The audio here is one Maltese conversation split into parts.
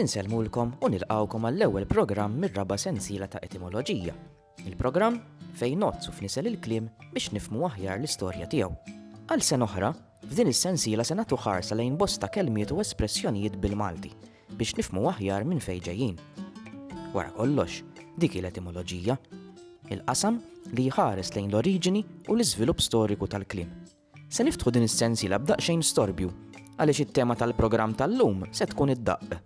Insellmulkom u nilqawkom għall-ewwel programm mir-raba' sensiela ta' etimoloġija. Il-programm fejn nozz u fnisel il-kliem biex nifmu aħjar l-istorja tiegħu. Għal sen oħra, f'din is-sensiela se nagħtu ħarsa lejn bosta kelmiet u espressjonijiet bil-Malti biex nifmu aħjar minn fejn ġejjin. Wara kollox, dik l-etimoloġija, il-qasam li jħares lejn l-oriġini u l-iżvilupp storiku tal-kliem. Se niftħu din is-sensiela b'daqsxejn storbju għaliex it-tema tal-programm tal-lum se tkun id-daqq.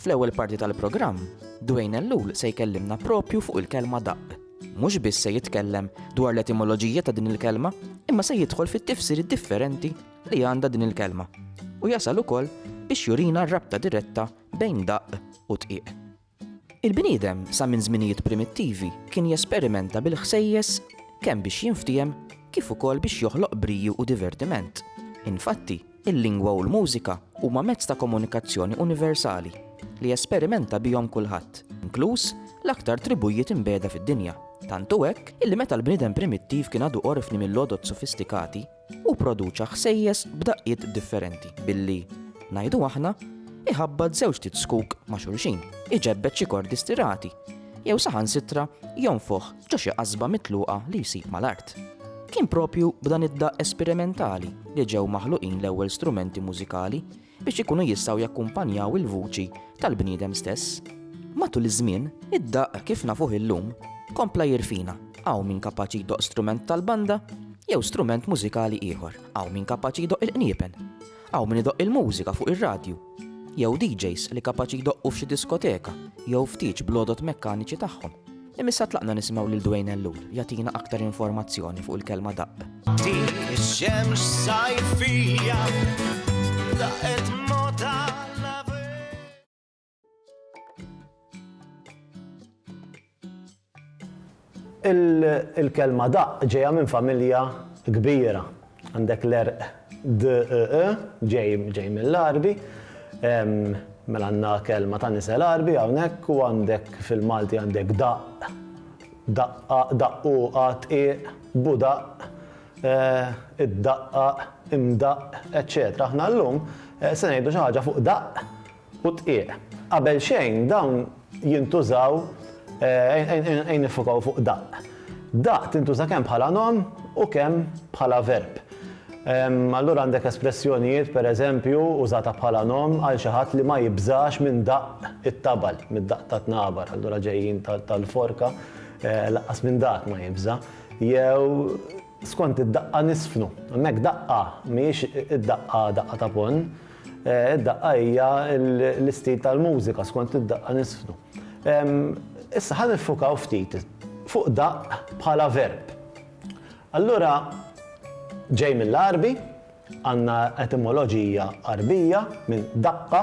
Fl-ewwel parti tal-programm, Dwayne Ellul se jkellimna propju fuq il-kelma daqq. Mhux biss se jitkellem dwar l-etimoloġija ta' din il-kelma, imma se jidħol fit-tifsiri differenti li għandha din il-kelma u jasal ukoll biex jurina r-rabta diretta bejn daqq u tqiq. Il-bniedem sa minn żminijiet primittivi kien jesperimenta bil-ħsejjes kemm biex jinftiehem kif ukoll biex joħloq briju u divertiment. Infatti, il-lingwa u l-mużika huma mezz ta' komunikazzjoni universali li jesperimenta bihom kulħadd, inkluż l-aktar tribujiet imbegħda fid-dinja. Tant hu hekk illi meta l-bniedem primittiv kien għadu qorfni mill-għodod sofistikati, Hu pproduċa ħsejjes b'daqqiet differenti billi, ngħidu aħna, iħabbat żewġt it-zkuk ma' xulxin, iġebbed xi kordi stirati, jew saħansitra jonfoħ ġo xi qasba mitluqa li jsib mal-art. Kien proprju b'dan id-daqq esperimentali li ġew maħluqin l-ewwel strumenti mużikali biex ikunu jistgħu jakkumpanjaw il-vuċi tal-bniedem stess. Matul iż-żmien, id-daqq kif nafuh illum kompla jirfina. Hawn min kapaċi jdoqq strument tal-banda jew strument mużikali ieħor. Hawn min kapaċi jdoqq il-qniepen. Hawn min idoqq il-mużika fuq ir-radju. Jew DJs li kapaċi jdoqqu f'xi diskoteka jew ftit blodot mekkaniċi tagħhom. Imma issa tlaqna nisimgħu lil Dwayne Ellul jagħtina aktar informazzjoni fuq il-kelma daqq. Din ix-xemx sajfija daqet Il-kelma daqq ġejja minn familja kbira Għandek l-għerq DEE, ġej mill-Għarbi. Mela għandna kelma ta' nisel Għarbi hawnhekk u għandek fil-Malti għandek daqq, daqqa, daqquqa, dqiq, budaqq, iddaqqaq, imdaqqq, eċċetera. Aħna llum se ngħidu xi ħaġa fuq daqq u dqiq. Qabel xejn dawn jintużaw ejn niffokaw fuq daqq. Daqq tintuża kemm bħala nom u kemm bħala verb. Allura għandek espressjonijiet per eżempju użata bħala nom għal xi ħadd li ma jibżax minn daqq it-tabal, mid-daqq tat-tnabar, allura ġejjin tal-forka, lanqas minn dak ma jibża', jew skont id-daqqa nisfnu. Hemmhekk daqqa mhijiex id-daqqa daqqa ta' ponn, Id-daqqa hija l-istil tal-mużika, skont id-daqqa niżfnu. Issa ħa niffukaw ftit fuq daqq bħala verb. Allura ġej mill-Għarbi, għandna etimoloġija Għarbija minn daqqa,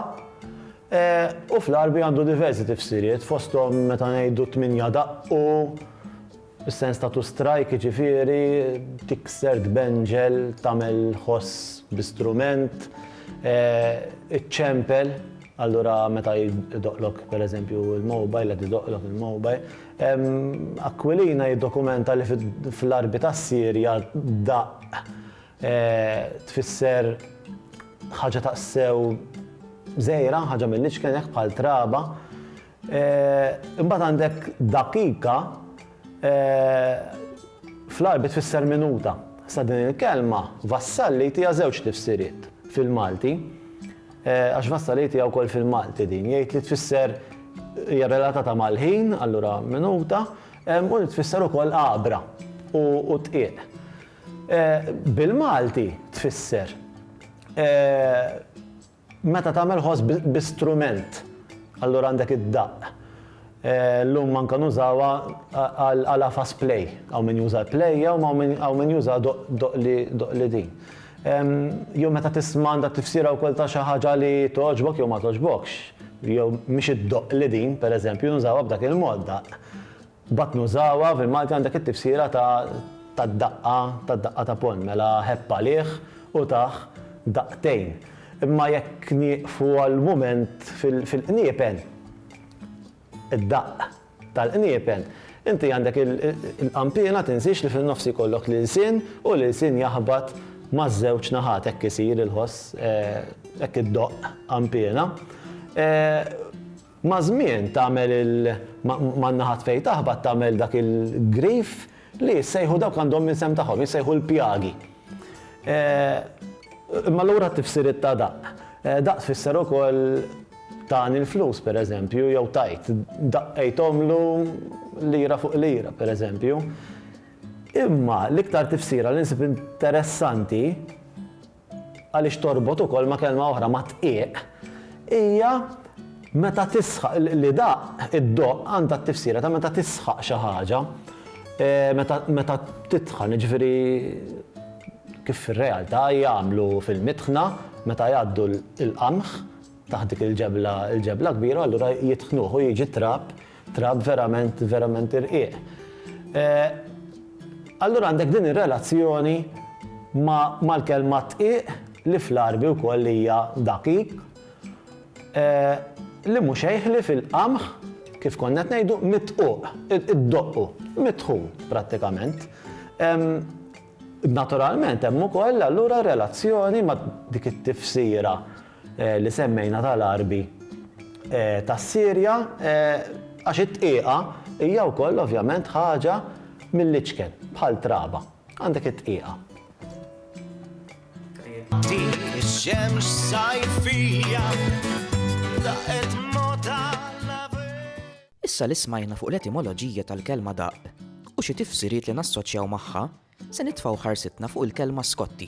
u fl-Għarbi għandu diversi tifsiriet fosthom meta ngħidu tmienja daqqu, Is-sens ta' to strike jiġifieri tikser, tbenġel, tagħmel ħoss bi strument, iċċempel, allura meta jdoqqlok pereżempju l-mobile, qed idoqqlok il-mobile. Aquilina jiddokumenta li fl-għarbi tas-Sirja daqq tfisser ħaġa taqsew żgħira, ħaġa mill-iċken hekk bħal traba, Imbagħad għandek daqiqa, fl-Għarbi tfisser minuta. Sa din il-kelma, vassalli jtiha żewġ tifsiriet fil-Malti, għax vassalli jtiha wkoll fil-Malti din, jgħid li tfisser hija relatata mal-ħin, allura minuta, u li tfisser ukoll għabra u dqiq. Bil-Malti tfisser Meta tagħmel ħoss bi strument, allura għandek id-daqq. Llum anke nużawha għal għafas play. Hawn min juża l-play u hawn min juża doqli din. Jew meta tisma' għandha tifsira wkoll ta' xi ħaġa li togħġbok jew ma togħġbokx. Jew mhix id-doqli din, pereżempju, nużawha b'dak il-mod, daqq. Mbagħad nużawha, fil-Malti għandek it-tifsira ta' tad-daqqa, tad-daqqa ta' ponn, mela ħebb għalih u tah daqtejn. Imma jekk nieqfu għal mument fil-qniepen, id-daqq tal-qniepen, inti għandek il-qanpiena tinsiex li fin-nofs ikollok l-ilsien u l-ilsien jaħbat maż-żewġ naħat, hekk isir il-ħoss, hekk iddoqq qanpiena. Maż-żmien tagħmel il man-naħat fejn taħbat tagħmel dak il-grif li jissejħu dawk għandhom l-isem tagħhom, jissejħu l-pjagi. Imma lura t-tifsiriet ta' daqq. Daqq tfisser ukoll tani l-flus pereżempju jew tajt, daqqejthomlu lira fuq lira pereżempju. Imma l-iktar tifsira li nsib interessanti, għaliex torbot ukoll ma' kelma oħra, ma' dqiq, hija meta tisħaq, li daqq, iddoqq, għandha t-tifsira ta' meta tisħaq xi ħaġa, meta tidħan, jiġifieri kif fir-realtà jagħmlu fil-mitħna meta jgħaddu l-qamħ taħt dik il-ġebla kbira, allura jitħnuh u jiġi t-trab Draft verament, verament irqiq. Allura għandek din ir-relazzjoni mal-kelma dqiq li fl-Għarbi wkoll hija daqiq, li mhu xejħ li fil-qamħ, kif konna qed ngħidu, midquq, iddoqqu, mitħun prattikament. Naturalment hemm ukoll allura relazzjoni ma' dik it-tifsira li semmejna tal-Għarbi tas-Sirja għax it-tqiegħa hija wkoll ovvjament ħaġa mill-iċken, bħal traba. Għandek it-tqiegħa. Issa li smajna fuq l-etimoloġija tal-kelma daqq u xi tifsiriet li nassoċjaw magħha, Se nitfgħu ħarsitna fuq il-kelma Skotti,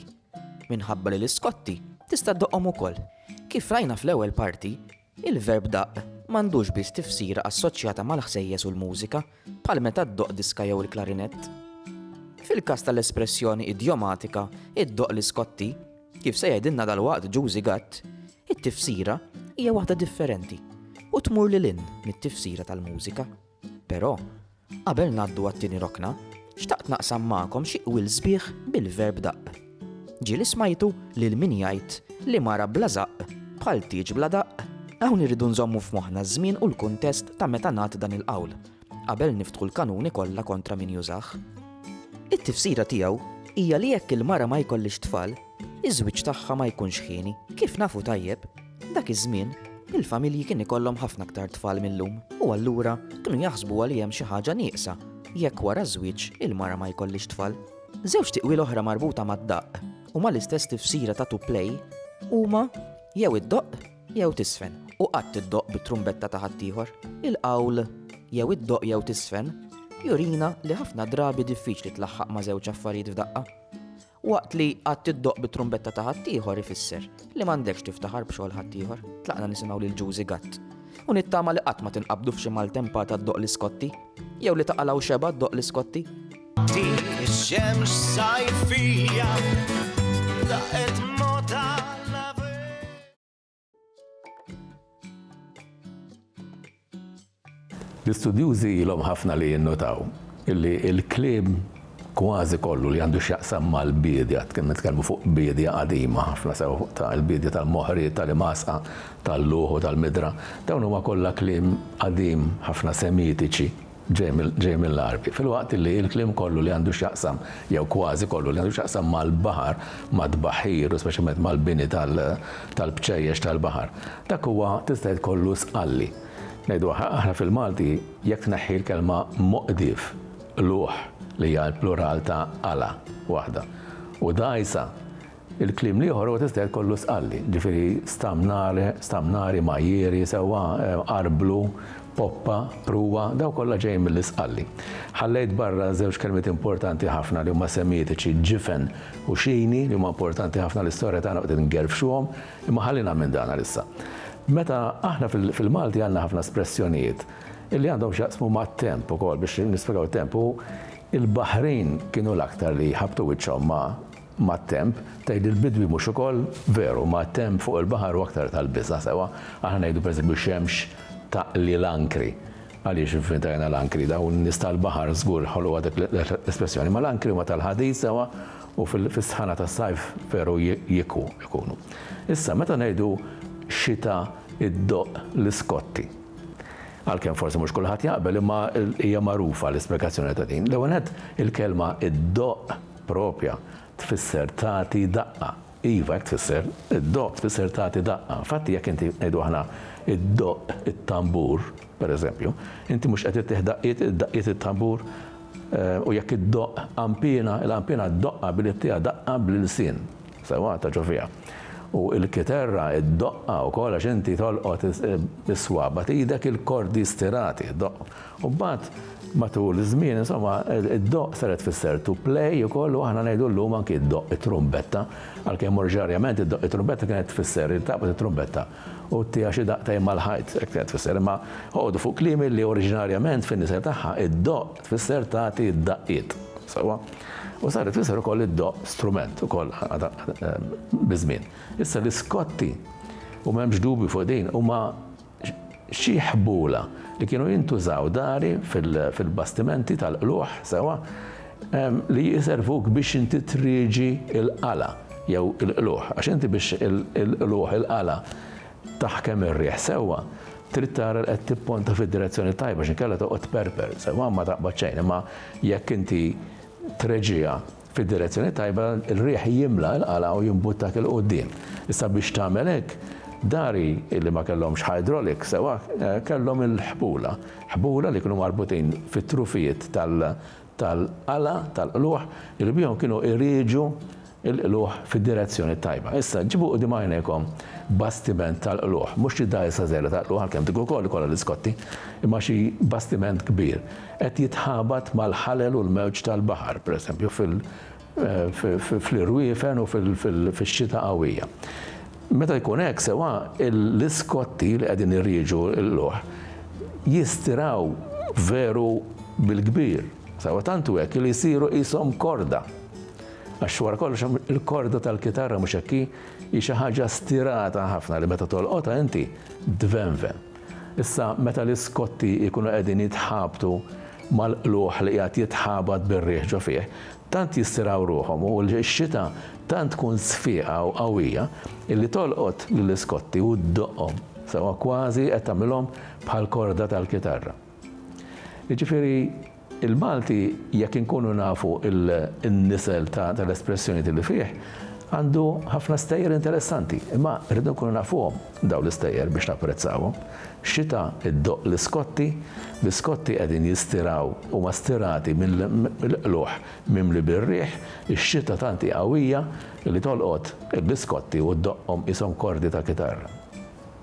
minħabba li l-Iskotti tista' ddoqhom ukoll. Kif rajna fl-ewwel parti, il-verb daqq m'għandux biss tifsira assoċjata mal-ħsejjes u l-mużika, bħal meta ddoqq diska jew il-klarinett. Fil-każ tal-espressjoni idjomatika iddoqq l-Iskotti, kif se jgħidilna dalwaqt Ġużi Gatt, it-tifsira hija waħda differenti u tmur lil hinn mit-tifsira tal-mużika. Però, qabel ngħaddu għat-tieni rokna, xtaqt naqsam magħkom xi qwil sbieħ bil-verb daqq. Ġie li smajtu lil min jgħid li mara bla żaqq bħal tieġ bla daqq. Hawn irridu nżommu f'moħħna ż-żmien u l-kuntest ta' meta ngħad dan il-qawl, qabel niftħu l-kanuni kollha kontra min jużah. It-tifsira tiegħu hija li jekk il-mara ma jkollhiex tfal, iż-żwieġ tagħha ma jkunx hieni. Kif nafu tajjeb, Dak iż-żmien, il-familji kien ikollhom ħafna aktar tfal mil-lum u allura kienu jaħsbuha li hemm xi ħaġa nieqsa jekk wara ż-żwieġ il-mara ma jkollhiex tfal. Żewġ tiqwil oħra marbuta mad-daqq u mal-istess tifsira ta' to play huma jew iddoqq jew tiżfen u qatt iddoqq bit-trumbetta ta' ħaddieħor. Il-qawl jew iddoqq jew tiżfen jurina li ħafna drabi diffiċli tlaħħaq ma' żewġ affarijiet f'daqqa. Waqt li qatt tiddoqq bit-trumbetta ta' ħaddieħor ifisser li m'għandekx tiftaħar b'xogħol ħaddieħor. Tlaqna nisimgħu lil Ġużi Gatt. U nittama li qatt ma tinqabdu f'xi maltempata ddoqq l-iskotti. Jew li ta' qala' u xebgħa ddoqq l-iskotti. Dik ix-xemx sajfija daqqet L-istudjużi ilhom ħafna li jinnotaw illi l-kliem kważi kollu li għandu x'jaqsam mal-biedja, kien nitkellmu fuq biedja qadima ħafna sew ta' il-biedja tal-moħri, tal-imasqa, tal-luħ u tal-midra, dawn huma kollha kliem qadim ħafna Semitiċi. ġej mill-Għarbi, filwaqt li l-kliem kollu li għandu x'jaqsam, jew kważi kollu li għandu x'jaqsam mal-baħar, mat-tbaħħir u speċjalment mal-bini tal-bċejjex tal-baħar, dak huwa tista' tgħid kollu sqalli. Ngħidu aħna fil-Malti jekk tneħħi l-kelma moqdif, qlugħ li hija l-plural ta' qala waħda, u dgħajsa, Il-kliem l-ieħor huwa tista' jgħid kollu stqalli, ġifieri stamnare, stamnari, majjieri, sewwa, arblu, poppa, pruwa, dawn kollha ġejjin mill-istqalli. Ħallejt barra żewġ kelmiet importanti ħafna li huma semitiċi, ġifen u xini, li huma importanti ħafna l-istorja tagħna u qed ingerfxuhom, imma ħallina minn dan għalissa. Meta aħna fil-Malti għandna ħafna espressjonijiet illi għandhom x'jaqsmu mat-temp ukoll biex nispjegaw it-temp u l-baħrin kienu l-aktar li ħabbtu wiċċhom ma' Mat-temp, tgħid il-bidwi mhux ukoll? Veru, mat-temp fuq il-baħar hu aktar tal-biża', sewa, aħna ngħidu pereżempju xemx taqli l-ankri. Għaliex infiltrajna l-ankri? Dawn in-nies tal-baħar żgur ħoloqha dik l-espressjoni. Ma l-ankri huma tal-ħadid, sewa, u fis-sħana tas-sajf veru jikwu, ikunu. Issa, meta ngħidu xita iddoqq l-iskotti. Għalkemm forsi mhux kulħadd jaqbel, imma hija magħrufa l-ispjegazzjoni ta' din. L-ewwel nett, il-kelma iddoqq proprja tfisser tagħti daqqa. Iva, hekk tfisser. Iddoqq tfisser tagħti daqqa. Infatti, jekk inti, ngħidu aħna, iddoqq it-tambur, per eżempju, inti mhux qed ittih daqqiet, daqqiet it-tambur? U jekk iddoqq qanpiena, il-qanpiena ddoqqha billi ttiha daqqa bl-ilsien. Sewwa, taġġor fiha. U l-kiterra ddoqqha wkoll għax inti tolqot bis-swaba' t'idek il-kordi stirati, ddoqqhom. U mbagħad matul iż-żmien insomma d-doqq sar qed tfisser to play ukoll u aħna ngħidu llum anki d-doqq it-trumbetta, għalkemm orġinarjament id-doqq it-trumbetta kienet tfisser li taqbad it-trumbetta u ttiha xi daqtejn mal-ħajt, hekk kienet tfisser. Imma oqogħdu fuq kliemi li oriġinarjament fin-nisel tagħha d-doqq tfisser tagħti d-daqqiet. Sewwa? U saret tfisser ukoll id-doqq strument ukoll biż-żmien. Issa l-iskotti, u m'hemmx dubju fuq din, huma Xi ħbula li kienu jintużaw dari fil-bastimenti tal-qlugħ sewwa li jservuk biex inti trieġi l-qala jew il-qlugħ. Għax inti biex il-qlugħ, il-qala, taħkem ir-riħ sewwa, trid tara li qed tipponta fid-direzzjoni t-tajba x'inkella toqgħod tperper sewwa ma taqbad xejn imma jekk inti treġiha fid-direzzjoni t-tajba, ir-riħ jimla' l-qala' u jimbuttak 'il quddiem. Issa biex tagħmel hekk, dari li ma kellhomx hydraulic sewwa kellhom il-ħbula. Ħbula li kienu marbutin fit-trufijiet tal-qala' tal-qlugħ li bihom kienu irieġu l-qlugħ fid-direzzjoni t-tajba. Issa ġibu quddiem għajnejkom bastiment tal-qlugħ, mhux xi dgħajsa żgħira tal-qlugħ għalkemm dik ukoll ikollha l-iskotti, imma xi bastiment kbir. Qed jitħabat mal-ħalel u l-mewġ tal-baħar, pereżempju, fl-irwiefen u fix-xita qawwija. Meta jkun hekk, sewwa l-iskotti li qegħdin irrieġu l-luħ jistiraw veru bil-kbir, sewwa tant hu hekk li jsiru qishom korda. Għax wara kollox il-korda tal-kitarra, mhux hekk hi, hi xi ħaġa stirata ħafna li meta tolqotha inti tvenven. Issa meta l-iskotti jkunu qegħdin jitħabtu mal-qlugħ li qiegħed jitħabat bir-riħ ġo fih, tant jistirgħu ruħhom u x-xita tant tkun sfieqa u qawwija illi tolqot lill-iskotti u ddoqqhom sewwa kważi qed tagħmlilhom bħall-korda tal-kitarra. Jiġifieri, il-Malti, jekk inkunu nafu n-nisel tal-espressjonijiet li fih, għandu ħafna stejjer interessanti. Imma rridu nkunu nafuhom dawn l-istejjer biex napprezzawhom. Xita ddoqq l-iskotti, l-iskotti qegħdin jistiraw, huma stirati mill-qlugħ mimli bir-riħ, ix-xita tant hi qawwija li tolqot l-iskotti u ddoqqhom qishom kordi ta' kitarra.